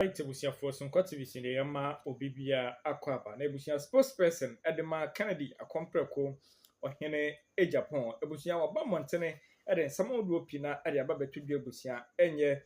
Ɔyɛ abusuafoɔ sonkɔ television deɛ yɛma obi biara akɔ aba na abusua spokesperson de ma Kennedy Akompreko Ɔhene Agyapong abusua waba mmɔntene de nsɛm ahodoɔ pii no ara de aba bɛto dwa abusua ɛnyɛ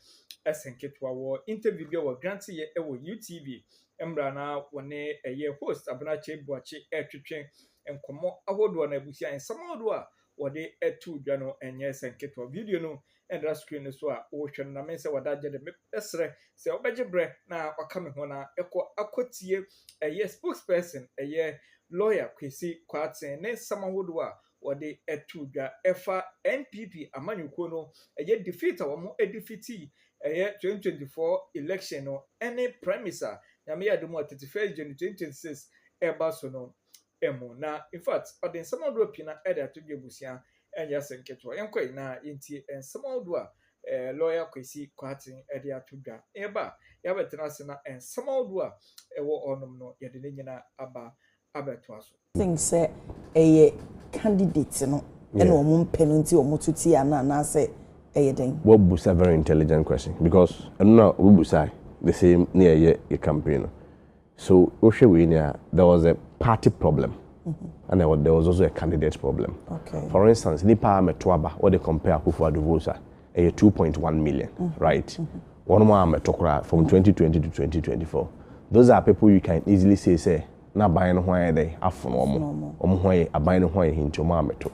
ɛsɛn ketewa wɔ interview bi a wɔgrante yɛ wɔ UTV mmerɛ a na wɔne ɛyɛ host Abena Kyei Boakye ɛretwetwe nkɔmmɔ ahodoɔ no abusua nsɛm ahodoɔ a wɔde to dwa no ɛnyɛ ɛsɛn ketewa video no ɛntra screen no so a ɔrehwɛ no na me sɛ wɔda agye de mɛsrɛ sɛ ɔbɛgye berɛ na ɔka me ho na ɛkɔ akɔtie ɛyɛ spokesperson ɛyɛ lawyer Kwesi Kwarteng ne nsɛm ahodoɔ a wɔde ɛto dwa ɛfa NPP amanyɔkuo no ɛyɛ defeat a wɔn defeati ɛyɛ 2024 election no ɛne primaries a Nyame yɛ adom a 31 January 2026 ɛreba so no mu. Na in fact ɔde nsɛm ahodoɔ pii no ɛde ato dwa abusua ɛnyɛ asɛm ketewa. Yɛn kɔ yi na yɛn tie nsɛm ahodoɔ a ɛɛ lawyer Kwesi Kwarteng ɛde ato dwa. Yɛ ba a yɛ abɛ tena ase na nsɛm ahodoɔ a ɛwɔ hɔ nom no yɛde ne nyina aba abɛ toa so. think sɛ ɛyɛ candidate no ɛna wɔn mpɛ no nti wɔn to tia no anaasɛ ɛyɛ dɛn? Wa busa very intelligent question because ɛno na obi busae the same ne yɛ yɛ yɛ campaign no. So wohwɛ wei ni a, there was a party problem and mm-hmm. there was also a candidate problem. Okay. For instance, nipa a mɛto aba, what they compare Akufo Addo votes a, ɛyɛ 2.1 million, mm-hmm. right? Mm-hmm. Wɔn mu a mɛto koraa from 2020 to 2024, those are people you can easily say sɛ na aban no ho ayɛ dɛ afono wɔn, wɔn ho ayɛ aban no ho ayɛ hinti wɔn a mɛto.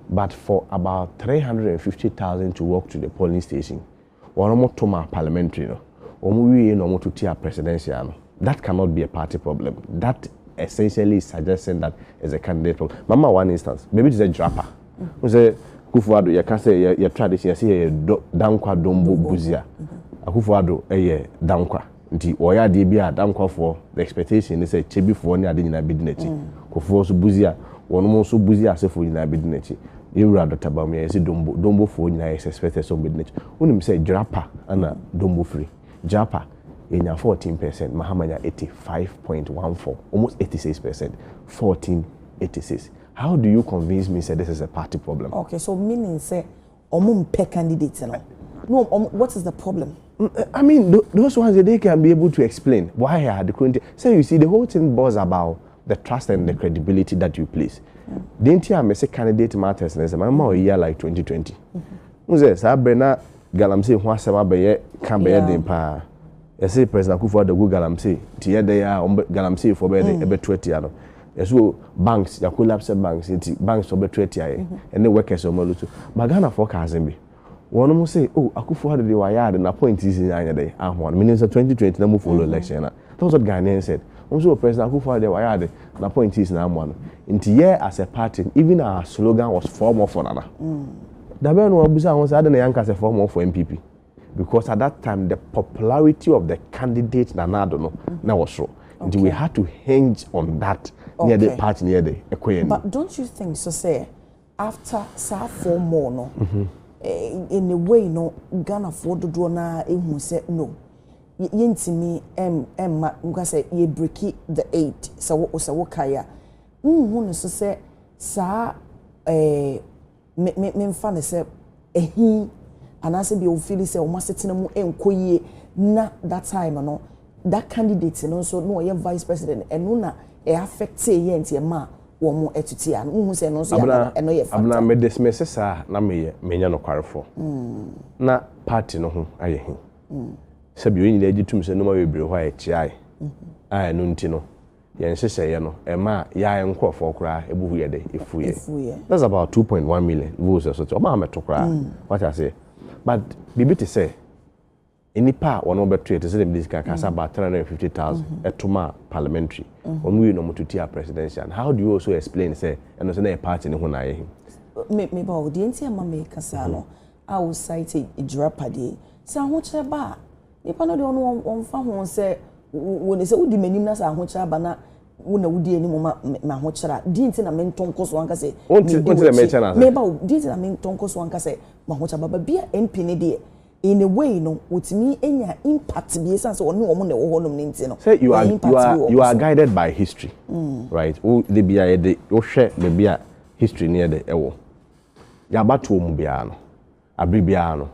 But for about 350,000 to walk to the polling station, Wɔn to maa parliamentary no, wɔn wiei na wɔn to tiaa presidential no, that cannot be a party problem, that essentially is suggesting that is a candidate problem. Ma ma wo one instance, baabi te sɛ Jirapa, wohu sɛ Akufo Addo yɛka sɛ yɛ yɛ tradition yɛse yɛyɛ Dɔ Dankwa Dombo Busia, Akufo Addo yɛ Dankwa. Nti ɔyɛ adeɛ bi a Dankwafoɔ the expectation ne sɛ Kyebifoɔ ne ade nyinaa bɛdi n'akyi. Kofoɔ nso Busia wɔnom nso Busia asefoɔ nyinaa bɛdi n'akyi. Yɛwura Doctor Bawumia yɛse Dombo Dombofoɔ nyinaa yɛ expected sɛ wɔbɛdi n'akyi. Wonim sɛ Jirapa na Dombo firi? Jirapa yɛnya 14 percent Mahama nya 85.14 almost 86 percent 14 86 how do you convince me sɛ this is a party problem? Okay so meaning sɛ ɔmo mpɛ candidate no na ɔmo what is the problem. I mean those ones they can be able to explain why a de koro nti sɛ you see the whole thing boils about the trust and the credibility that you place de nti a mese candidate matters ne sɛ ma ma ɔyi like 2020 n sɛ saa berɛ na galamsey ho asɛm abɛyɛ ka bɛyɛ den paa yɛse president akufo adagwu galamsey nti yɛdɛ yɛ a galamseyfoɔ bɛyɛ den ɛbɛto atia no yɛ so banks ya collapse banks nti banks ɔbɛto atia yɛ mhm. ɛne workers ɔmo no so ba Ghana fɔ kaase bi wɔn mo sɛ o oh, akufo ado de wayɛ ade na point si nyinaa nyɛ dɛ ahoa no menim sɛ 2020 na mo follow mhm. election na that was what Ghanaian said wɔn so wɔ president akufo ado de wayɛ ade na point si nyinaa amoa no nti yɛ as a party even our slogan was form of nana mm. dabɛn no wɔn abusa ho sɛ ade na yɛn ankasa form of NPP. because at that time the popularity of the candidate Nana Addo no na ɛwɔ soro nti we had to hinge on that ne yɛde Okay. party ne yɛde ɛkɔ yɛn anim. But don't you think so sɛ after saa four more no eh, in a way no Ghanafoɔ dodoɔ no ara ehu sɛ no y- yɛntumi ɛm- ɛmma nka sɛ yɛ breaki the eight sɛ wo sɛ wokae a wonhu no so sɛ saa eh, me me memfa no sɛ ahi anaasɛ deɛ wofili sɛ wɔn asetena mu nkɔ yie na that time no that candidate no nso na ɔyɛ vice president ɛno na ɛ affect yɛ nti ɛma wɔn ɛtete a wohu sɛ ɛno nso yɛ ɛno yɛ factor. Abena me dismiss saa na meyɛ menyɛ nokwarefo mm. na party no ho ayɛ he mm. sɛbi yɛn nyinaa gye tum sɛ nneɛma bebree hɔ a ɛkyeae mm-hmm. a ɛno nti no Yɛn nhyehyɛeɛ no, ɛmaa yɛa yɛn nkorɔfoɔ koraa bo hu yɛ dɛ? Efuiɛ. That's about two point one million views ɛso te ɔmaa mɛto koraa wate aseɛ but biribi te sɛ nnipa a wɔn mo bɛtoɛ te sɛ deɛ mede sika kaa sɛ about three hundred and fifty thousand ɛto maa parliamentary wɔn wieɛ na wɔn to tiaa presidential no how do you also explain sɛ ɛno nso na ɛyɛ party no ho na ayɛ he? Me me ba o deɛ nti a ɛma meka saa no a wo cite Jirapadeɛ yi sɛ ahokyerɛ ba a Nnipa no deɛ ɔno ɔmfa ho sɛ wo ne sɛ wodi m'anim na sɛ ahokyerɛ aba na wo na wodi anim ma m'ahokyerɛ a di nti na mentɔ nkɔ so anka sɛ medi w'akyi meba wo di nti na mentɔ nkɔ so anka sɛ m'ahokyerɛ baba bi a MP ne deɛ in a way no wotumi anya impact bi esan sɛ ɔne wɔn na ɛwɔ hɔnom ne nti no sɛ you are you are you are guided by history mm. right wo de bi a yɛde wohwɛ baabi a history ne yɛde ɛwɔ yɛabatoɔ mu biara no Aber biara no,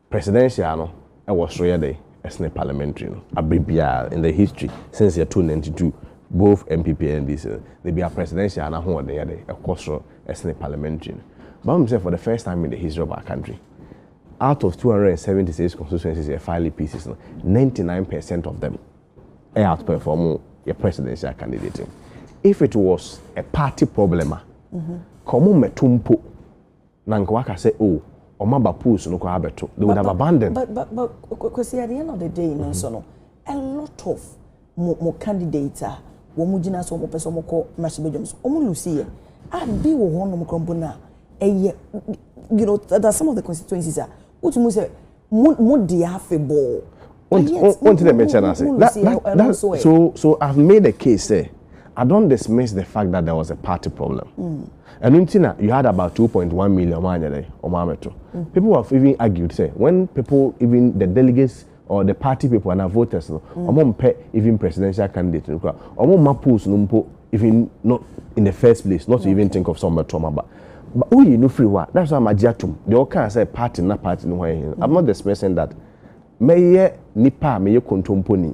presidential no wɔ sor yɛ dɛn sene parliamentary no. Aber biara in the history since yɛtoo ninety two both NPP and NDC no, da biara presidential n'ahoɔden yɛ dɛn, ɔkɔ sor sene parliamentary no. But wonim sɛ for the first time in the history of our country, out of two hundred and seventy six constituencies yɛ file pieces no, ninety nine per cent of them out perform yɛ presidential candidate no. If it was a party problem a, nka wɔmmɛto mpo. Na nka waka sɛ oh ɔma ba pools no koraa bɛto, they would have abandoned. But but but Kwesi at the end of the day no nso no, a lot of mo mo candidates a wɔn gyina so wɔn pɛ sɛ wɔn kɔ mmarahyɛbadwam so wɔn lusi yɛ, a bi wɔ hɔ nom koraa mpo na ɛyɛ you know there are some of the constituencies a wotumi sɛ mo mo deɛ afebɔɔ wonti dɛ mekyɛ no ase so so i've made a case sɛ I don't dismiss the fact that there was a party problem. Mm. And Untina, you had about 2.1 million people have even argued, say, when people, even the delegates or the party people and our voters no mm. ɔmo mpɛ even presidential candidate no kura ɔmo mma polls no mpo even not in the first place not to even think of some bɛtɔ ɔmo aba but woyi oh, no firi hɔ a that's why amagye atom deɛ ɔka sɛ party na party no hɔ yɛ hin i'm not expressing that mɛyɛ nipa a mɛyɛ kontomponi.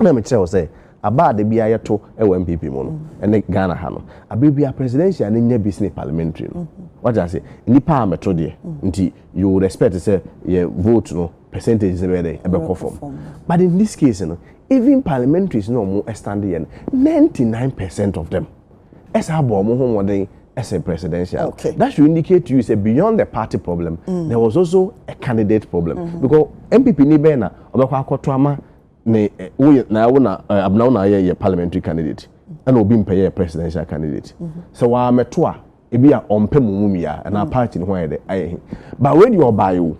Na mekyerɛ wo sɛ aba a da biara yɛto wɔ NPP mu no ne Ghana ha no, aber biara presidential no nya bi sene parliamentary no. Wate ase? Nnipa a meto deɛ nti you would expect sɛ yɛ vote no percentages no bɛyɛ dɛn? Ɛbɛkɔ fam. But in this case no, even parliamentaries no a wɔn stand yɛ no, 99 percent of them ɛsaa bɔ wɔn ho mmɔden ɛsɛ presidential. Okay. That should indicate to you sɛ beyond the party problem, mm. there was also a candidate problem. Mm -hmm. Because NPP ni bɛn na ɔbɛkɔ akɔto ama ne wo yɛ na wo na abena wo na ayɛ yɛ parliamentary candidate ɛna obi mpɛ yɛ presidential candidate mhm. sɛ wɔn amɛto a ebi a ɔmpɛ mu mu mia ɛna mhm. party ne ho ayɛ dɛ ayɛ he ba wei deɛ ɔbaa yi o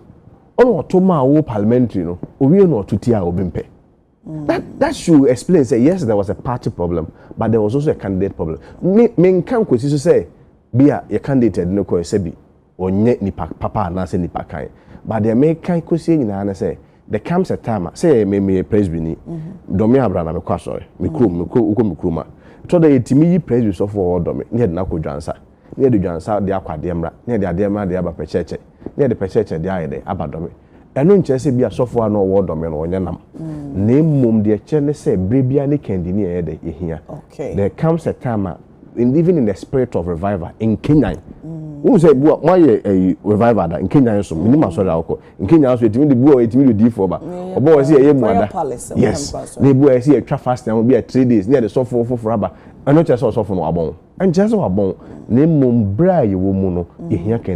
ɔna ɔto maa wo parliamentary no owie na ɔto ti a obi mpɛ. Mm. That that should explain say yes there was a party problem but there was also a candidate problem. Me me nka nkwesi so sɛ bi a yɛ candidate ɛde ne kɔ ɛsɛ bi. Ɔnyɛ nipa papa anaasɛ nipa kann. But deɛ mekan kɔsie nyinaa ne sɛ, there comes a time a, sɛ yɛ me meyɛ Presby ni, Dɔme Abra na mekɔ asɔre, me kurom, mekɔ wokɔ me kurom a, ɛtɔ da yɛtumi yi Presby sɔfoɔ a ɔwɔ Dɔme ne yɛde no akɔ Dwansa, ne yɛde Dwansa deɛ akɔ Adeɛmra, ne yɛde Adeɛmra deɛ aba Pɛkyɛɛkyɛ, ne yɛde Pɛkyɛɛkyɛ deɛ ayɛ dɛ aba Dɔme. Ɛno nkyerɛ sɛ ebia sɔfo a na ɔwɔ ɔdɔ me no ɔnyɛ nam, na mmom deɛ ɛkyerɛ ne sɛ berɛ biara ne kandini a ɛyɛ dɛ ɛhia. There comes a time a even in the spirit of revival, nkenyan. Wohu sɛ bi a moayɛ ɛyi revival da nkenyan so menim asɔre a wokɔ nkenyan so ɛtumi de bi a ɛtumi de odiifoɔ ba ɔbɔ wɔ sɛ yɛyɛ mu ada yes na ebi a ɛsɛ yɛtwa fasting ho bi a three days ne yɛde sɔfo foforɔ aba ɛno kyerɛ sɛ ɔsɔfo no wabɔn ɛnkyerɛ sɛ wabɔn na mmom berɛ a yɛwɔ mu no yɛhia kɛn